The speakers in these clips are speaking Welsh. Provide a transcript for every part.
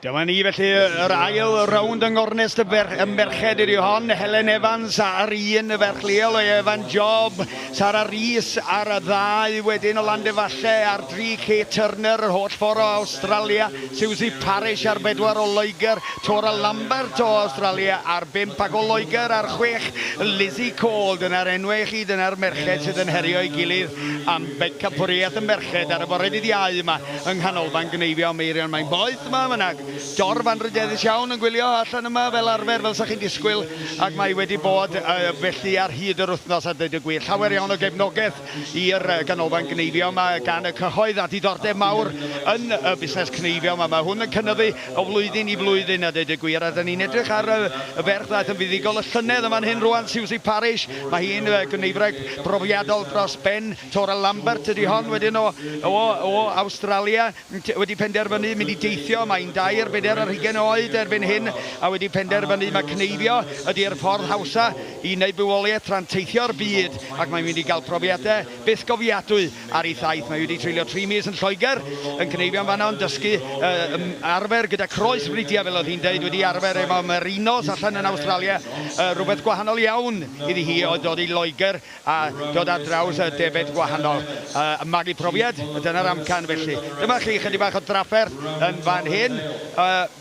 Dyma ni felly yr ail rownd yng Ngornest y, ber, y Merched ydi hon. Helen Evans a'r un y ferch leol o Evan Job. Sara Rhys ar y ddau wedyn o Landefalle a'r dri Kate Turner yr holl ffordd o Australia. Susie Parish ar bedwar o Loegr. Tora Lambert o Awstralia ar bump ac o Loegr ar chwech, Lizzie Cole, dyna'r enwau i chi, dyna'r merched sydd yn herio'i gilydd am bencapwriaeth y merched ar y fore dydd Iau yma yng Nghanolfan Gneifio Meirion. Mae'n boeth 'ma, mae 'na dorf anrhydeddus iawn yn gwylio allan yma fel arfer, fel 'sa chi'n disgwyl, ac mae wedi bod felly ar hyd yr wythnos a deud y gwir. Llawer iawn o gefnogaeth i'r Ganolfan Gneifio yma gan y cyhoedd a diddordeb mawr yn y busnes cneifio yma. Mae hwn yn cynyddu o flwyddyn i flwyddyn a deud y gwir a 'da ni'n edrych ar y ferch ddaeth yn fuddugol y llynedd yn fan hyn rwan, Siwsi Parish, mae hi'n gneiffwraig brofiadol dros ben, Tora Lambert ydi hon wedyn o o o Awstralia. Maent wedi penderfynu mynd i deithio, mae'n dair bedair ar hugain oed erbyn hyn, a wedi penderfynu mai cneifio ydi'r ffordd hawsa i wneud bywoliaeth tra'n teithio'r byd ac mae'n mynd i gael profiadau bythgofiadwy ar ei thaith. Mae wedi treulio tri mis yn Lloegr yn cneifio yn fan'na, yn dysgu, yn arfer gyda croes fridiau fel oedd hi'n deud, wedi arfer efo merinos allan yn Awstralia, rhywbeth gwahanol iawn iddi hi oedd dod i Loegr. a dod ar draws y defaid gwahanol, a magu profiad, dyna'r amcan felly. Dyma chi chydig bach o drafferth yn fan hyn,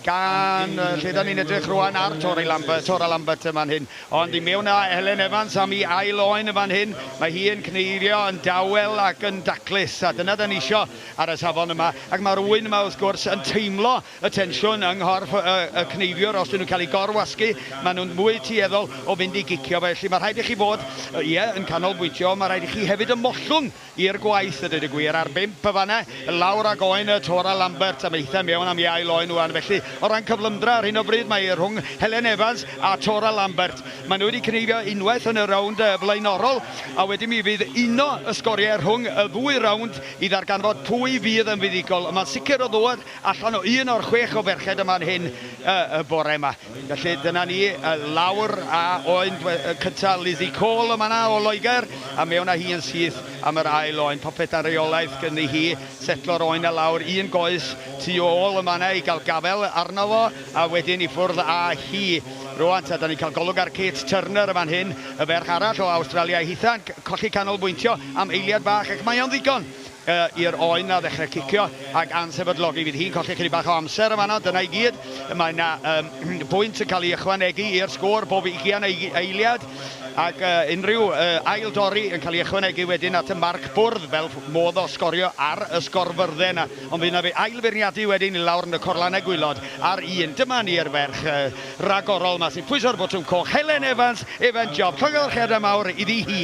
gan lle dan ni'n edrych rwan ar Torri Lambert, Tora Lambert yn fan hyn, ond i mewn â Helen Evans am i ail oen yn fan hyn, mae hi yn cneirio yn dawel ac yn daclus, a dyna dan ni isio ar y safon yma, ac mae'r ŵyn yma wrth gwrs yn teimlo y tensiwn yng nghorff y cneifiwr, os 'dyn nhw'n cael eu gor-wasgu, maen nhw'n fwy tueddol o fynd i gicio, felly mae rhaid i chi fod, ie, yn canolbwyntio, ond mae rhaid i chi hefyd ymhollwng i'r gwaith, a dweud y gwir, ar bump yn fan'na, lawr ag oen y tor a Lambert am eitha' mewn am iau loen ŵan, felly, o ran cyflymdra, ar hyn o bryd, mae e rhwng Helen Evans a tor a Lambert. Maen nhw wedi cneifio unwaith yn y rownd flaenorol, a wedyn mi fydd uno y sgoriau rhwng y ddwy rownd i ddarganfod pwy fydd yn fuddugol, ond mae'n sicr o ddod allan o un o'r chwech o ferched yma yn hyn y y bore yma. Felly dyna ni y lawr a oen dwe- y cynta Lizzie Cole yn fanna o Loegr a mewn a hi yn syth am yr ail oen. Popeth dan reolaeth gyni hi setlo'r oen a lawr un goes tu ôl yn fanna i ga'l gafel arno fo a wedyn i ffwrdd a hi rŵan ta dan ni'n ca'l golwg ar Kate Turner yn fan hyn y ferch arall o Awstralia hitha'n c- colli canolbwyntio am eiliad bach ac mae o'n ddigon i'r oen 'na ddechrau cicio ac ansefydlogi. Fydd hi'n colli ychydig bach o amser yn fan'na, dyna i gyd. Mae 'na um, bwynt yn cael ei ychwanegu i'r sgôr bob ugian eiliad, ac uh, unrhyw uh, ail dorri yn cael ei ychwanegu wedyn at y marc bwrdd fel modd o sgorio ar y sgorfyrddau yna. Ond fydd yna fe ail feirniadu wedyn i lawr yn y corlanau gwylod ar un. Dyma ni'r ferch uh, ragorol yma sy'n pwyso'r botwm coch, Helen Evans, Evan Job. Llongyfarchiadau mawr iddi hi.